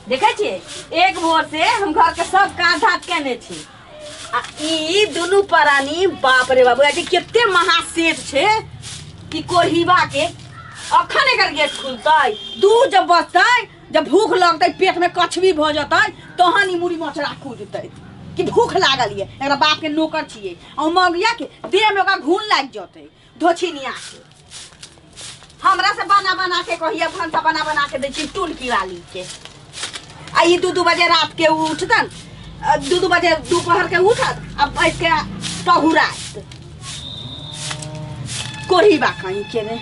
देखे छियै एक भोर से हम घर के सब काज धात केने छी आ ई दुनू परानी बाप रे बाबू अथी कते महासेठ छै ई कोढ़ीबा के अखन एकर गेट खुलतै दूध जब बचतै जब भूख लगतै पेट में कछवी भऽ जेतै तहन ई मुड़ी मचरा कूदतै कि भूख लागल ये एकरा बाप के नौकर छियै आ मगिया के देह में ओकरा घून लागि जेतै धोछी नहीं आके हमरा से बना बना के कहिया भंसा बना बना के दै छी टून किराली के आ ई दू दू बजे रात के उ उठतन आ दू दू बजे दोपहर के उठत आ बैठ के पहुरात कोढ़ी बा कहीं के ने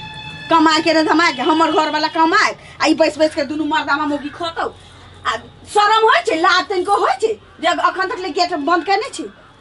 कमा के ने धमा के हमर घर वाला कमाए आ ई बैस बैस के दुनू मर्दामा मोगी खतौ आ शरम होइ छै लाज तनिको होइ छै जे अखन तक ले गेट बंद केने छी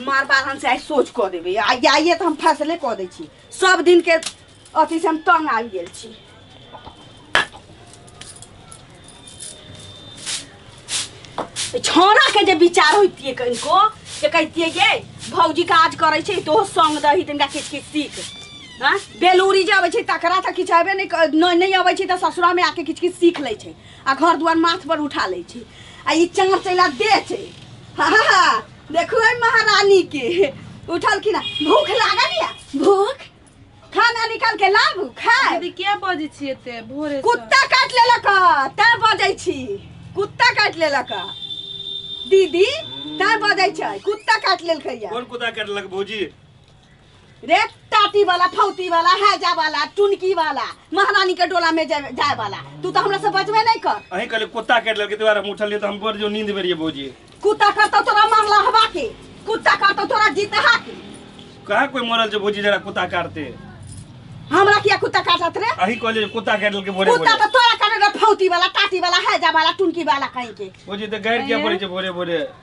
मार बार हम चाहे सोच कऽ देबै आ जाइए तऽ हम फैसले कऽ दै छी सब दिनके अथीसँ हम तंग आबि गेल छी ई छौड़ाके जे विचार होइतियै कनिको जे कहितियै गे भौजी काज करै छै तो संग दही तिनका किछु किछु सीख हँ बेलूरी जे अबै छै तकरा तऽ किछु हेबे नहि क- नहि नहि अबै छै तऽ ससुरामे आके किछु किछु सीख लै छै आ घर दुआर माथपर उठा लै छै आ ई चाँचैला देह छै हा हा हा देखो ए महारानी के उठल कि ना भूख लागल या भूख खाना निकाल के लाबू खाए दीदी क्या बजै छी एते भोरे से? कुत्ता काट लेलक तैं बजै छी कुत्ता काट लेलक दीदी तैं बजै छै कुत्ता काट लेलकै या कोन कुदा करलक भौजी रे टाटी वाला फौती वाला हैजा वाला टुनकी वाला महारानी के डोला में जाए जाए वाला तू तो हमरा से बचबे नहीं कर अहीं कहले कुत्ता काट लेलके तोरा हम उठलिए तो हम बोल जो नींद में रहिए भौजी कुत्ता करता तोरा मारला हवा के कुत्ता करता तोरा जीतहा के कहाँ कोई मरल छै भौजी जरा कुत्ता काटते हमरा किया कुत्ता काटत रे अहीं कहले जे कुत्ता काट लेलके भोरे कुत्ता भोरे तो तोरा करे रे फौती वाला टाटी वाला हैजा वाला टुनकी वाला कहीं के भौजी तो गाड़ि किया पड़े छै भोरे भोरे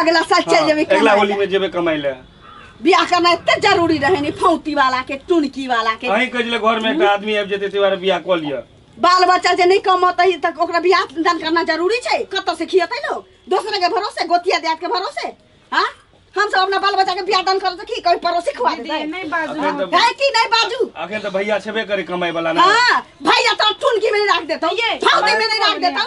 अगला साल चल हाँ, जेबे अगला होली में जेबे कमाई ले बियाह करना इतना जरूरी रहे नहीं फौती वाला के टुनकी वाला के अहीं कजले घर में एक हम्म। आदमी आबि जेते तिवारे बियाह क लिया बाल बच्चा जे नहीं कमतै त ओकरा बियाह दान करना जरूरी छै कत से खियतै लोग दोसरा के भरोसे गोतिया देत के भरोसे हां हम सब अपना बाल बच्चा के बियाह दान करत की कोई पड़ोसी खवा दे नहीं बाजू है कि नहीं बाजू आखिर त भैया छबे करे कमाई वाला ना हां भैया त टुनकी में रख देतौ फौती में नहीं रख देतौ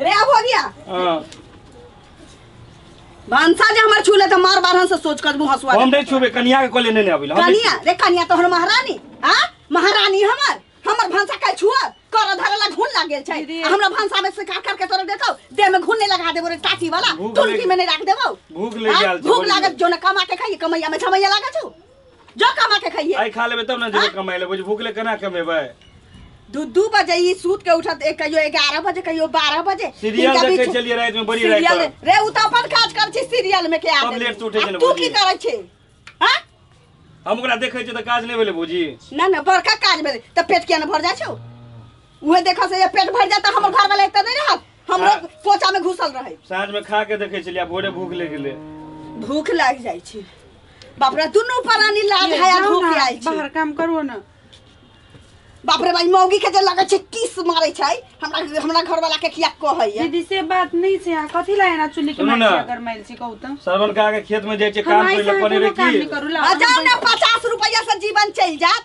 रे अब हो गया हाँ। भंसा जे हमर छूले त मार बारहन से सोच कर मुंह हसुआ हम नहीं छुबे कनिया के कोले नहीं अभी कनिया रे कनिया तोहर महारानी आ महारानी हमर हमर भंसा का छुआ कर धरे ला घुन लाग गेल छै आ हमरा भंसा में से काट काट के तोरा देतौ देह में घुन नहीं लगा देबो रे टाटी वाला भूख तुलकी लग- में नहीं राख देबो भूख लग आ, गेल छै, भूख बोली लागत जो न कमा के खाई कमैया में झमैया लागत छौ जो कमा के खाइए आई खा लेबे तब ना जेबे कमाई ले बुझ भूख ले केना कमेबे दू दू बजे ई सूत के उठत एक कहियो एगारह बजे कहियो बारह बजे सीरियल इनका देखे बीच- चलिए रात में बड़ी रात सीरियल पर। रे उ त अपन काज कर छी सीरियल में के सब आदमी लेट से उठै छै आ ने तू बुझी। की करै छी हां हम ओकरा देखे छियै तऽ काज नहि भेलै बुझी ना ना बड़का काज भेलै त पेट किया न भर जाइ छौ उहे देखा से ये पेट भर जाता हमर घर वाला एते नहीं रहत हम लोग कोचा में घुसल रहे साँझ में खा के देखे छलियै भोरे भूख ले गेले भूख लाग जाइ छै बाप रे दुनू परानी लाज है आ भूख आइ छै बाहर काम करो ना बाप रे भाई मौगी के जे लगे छै किस मारे छै हमरा हमरा घर वाला के किया कहै है दीदी से बात नहीं से यहाँ कथी लाए ना चुली के सुनू माइल ना। से अगर माइल से कहू तो सरवन के आगे खेत में जाइ छै काम हम करे ले ऐसे कोनो पड़े रे काम की नहीं करू ला आ जाओ ना पचास रुपया से जीवन चल जात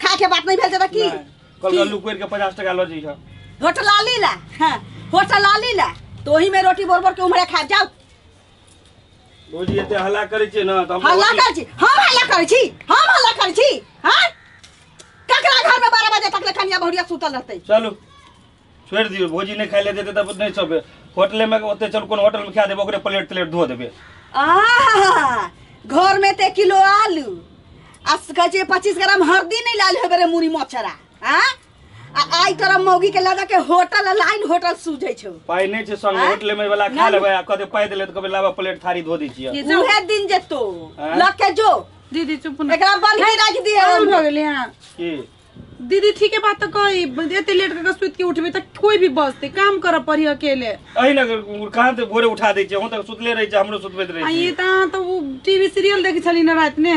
खा के बात नहीं भेल जदा की कल का लुक के 50 टका लो जी होटल लाली ला हां होटल लाली ला तो ही में रोटी बोर बोर के उमरे खा जाओ रोजी एते हल्ला करै छी ना त हम हल्ला करै छी हम हल्ला करै छी हम हल्ला करै छी हां ककरा घर में 12 बजे तक ले कनिया बहुरिया सुतल रहतै चलू छोड़ि दियौ भोजी नहि खाय लए देतै तब नहि सब होटलेमे ओते चल कोनो होटलमे खा देबै ओकरे प्लेट तलेट धो देबै आहा घर में ते किलो आलू आ कहै छै पच्चीस ग्राम हरदी नहीं लाल होबे रे मुड़ी मच्छरा आ आ आई तोरा मौगी के लगा के होटल आ लाइन होटल सूझे छौ पाइ नहि छै संग आँय? होटलेमे वाला खा नहि। लेबै आ कहते पाइ देले तऽ कहबै लाबा प्लेट थारी धो दै छियै ये जाओ। उहे दिन जेतो आँय? लग के जो दीदी चुप ना एकरा बन के राख दिए आराम हो गेलै हँ की दीदी ठीक है बात तो कही एते लेट करके सुत के उठबे त कोई भी बसते काम कर पड़ी अकेले अही ना कहाँ से भोरे उठा दै छियै हम तऽ सुतले रहै छियै हमरो सुतबैत रहै आ छियै ये त अहाँ त उ टीवी सीरियल देखै छली न रात ने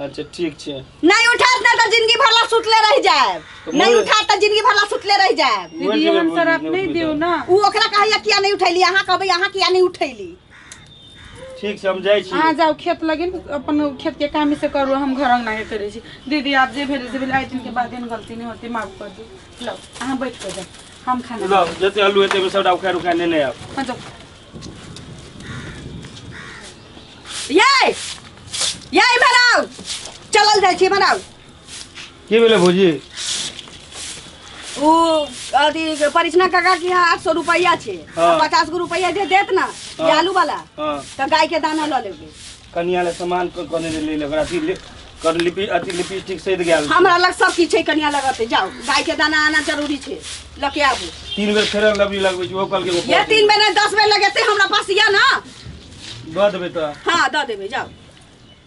अच्छा ठीक छै नहीं उठात ना तो जिंदगी भर ला सुतले रह जाए तो नहीं बोले- उठात तो जिंदगी भर ला सुतले रह जाए दीदी जगह हम बोली, शराब नहीं नहीं उठबे देव ना उ ओकरा कहैया किया नहीं उठैली अहाँ कहबै अहाँ किया नहीं उठैली ठीक छै हम जाइ छी अहाँ जाउ खेत लगिन अपन खेतके कामे से करू हम घर अङ्गना के करै छी दीदी आब जे भेलै से भेलै आइ दिनके बाद एहन गलती नहि होतै माफ कर दू लौ अहाँ बैठ कऽ जाउ हम खाना लऽ जते आलू हेतै ओहिमे सबटा उखाड़ि उखाड़ि नेने आयब हाँ, जाउ ये ये इम्हर आउ चलल जाइ छी इम्हर आउ की भेलै भौजी ओ अथी परिचना काका के यहाँ आठ सौ रुपया छे हाँ। पचास गो रुपया जे देत ना हाँ। आलू वाला हाँ तो गाय के दाना ल लेबे कनिया ले सामान क- कने ले ले ओकरा अथी ले कर लिपि अथी लिपस्टिक सहित गेल हमरा लग सब किछ है कनिया लगते जाओ गाय के दाना आना जरूरी छे लके आबू तीन बेर फेर लबरी लगबै छी ओ कल के ये तीन बेर नहीं, दस बेर लगेते हमरा पास या ना दऽ देबै तऽ हाँ दऽ देबे जाओ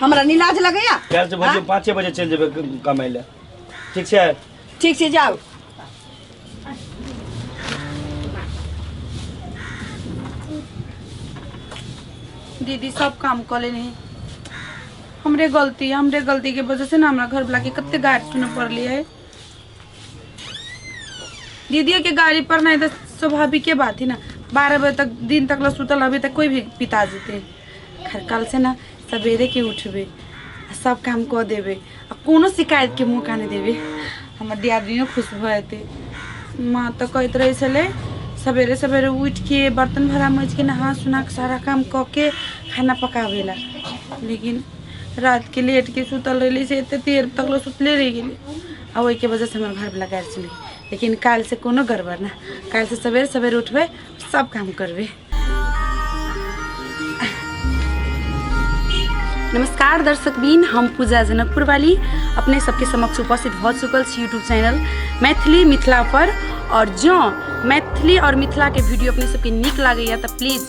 हमरा निलाज लगैया काल्हि से बजे पाँचे बजे चलि जेबै क- कमाइ लए ठीक छै ठीक छै जाउ दीदी सब काम कऽ लेनी हमरे गलती हमरे गलती के वजह से ना हमरा घर वाला के कते गारि सुनऽ पड़ली है दीदियों के गाड़ी पर नहीं तो स्वाभाविक के बात ही ना बारह बजे तक दिन तक ला सुतल अभी तक कोई भी पिता जेते खैर कल से ना सवेरे के उठबे आ सब काम कऽ देबे आ कोनो शिकायत के मौका नहीं देबे हमर दियादिनियो खुश भऽ जेते माँ तऽ कहैत रहै छलै सवेरे सवेरे उठि के बर्तन भरा माजि के नहा सुना के सारा काम कऽ के खाना पकाबे ला लेकिन रात के लेट के सुतल रही से एते देर तक लो सुतले रह गेली आ ओहि के वजह से हमार घर वाला गाड़ी चली लेकिन काल से कोनो गड़बड़ ना काल से सवेरे सवेरे उठबे सब काम करबे नमस्कार दर्शक बीन हम पूजा जनकपुर वाली अपने सबके समक्ष उपस्थित भऽ चुकल छी यूट्यूब चैनल मैथिली मिथिला पर और जँ मैथिली और मिथिला के वीडियो अपने सबके नीक लागैए तऽ प्लीज